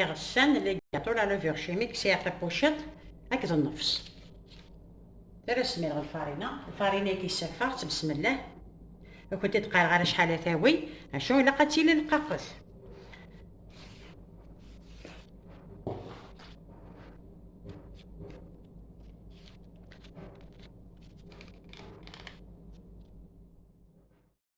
iɣsan, ligaṭul, aluvir chimique, sɛiɣ tapuciḍt akked nnefs. Ara smireɣ lfarina, lfarina i k-issafaɣ, ttbesmellah. Ur kent-id-qqareɣ ara acḥal ad tawi, acu ilaq ad tili lqaqet.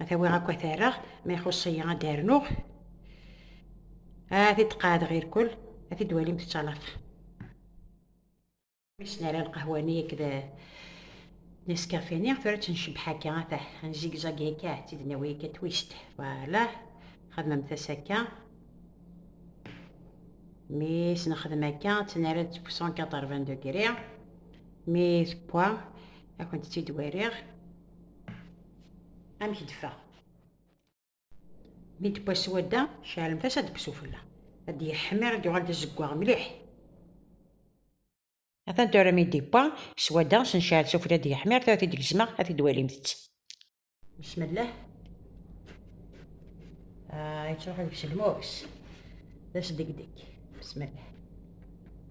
ad awiɣ akk ad rreɣ ma ixuṣ-iyi ad d-rnuɣ ad t-id-qeɛdeɣ irkul ad t-id-walim tettalaḍ wissen ara lqahwa-nni akked neskafe-nni tura ttnecbeḥ akka ata nzigzag akka ad tt-id-nawi akka twist voilà xedmemt-as akka mi s-nexdem akka ttnara-d 180 degré mi tewwa ad kent-tt-id-wariɣ amek d-ffaɣ mi d-wwa swadda ceɛlemt-as ad d-kkes ufella ad d-yeḥmir ad d-yuɣal d azeggaɣ mliḥ atan tura mi d-yewwa swadda s necɛel s ufella ad d-yeḥmir tura tid gezmeɣ ad t-id-walimt bismillah yettruḥ deg-s lmus d asdegdeg bismillah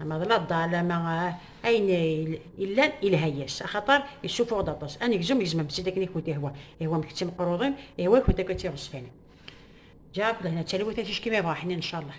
Ama d laḍal ama ayen illan ilha-yas, axaṭer issuffuɣ-d aṭas. Anegzum gezmem-t-id akken i kent-ihwa, ihwa-m kečč imeqruḍen, ihwa-kent akk a tiɣezfanin. Ǧǧiɣ akk lehna d talwit a ticki mi ṛuḥen incallah.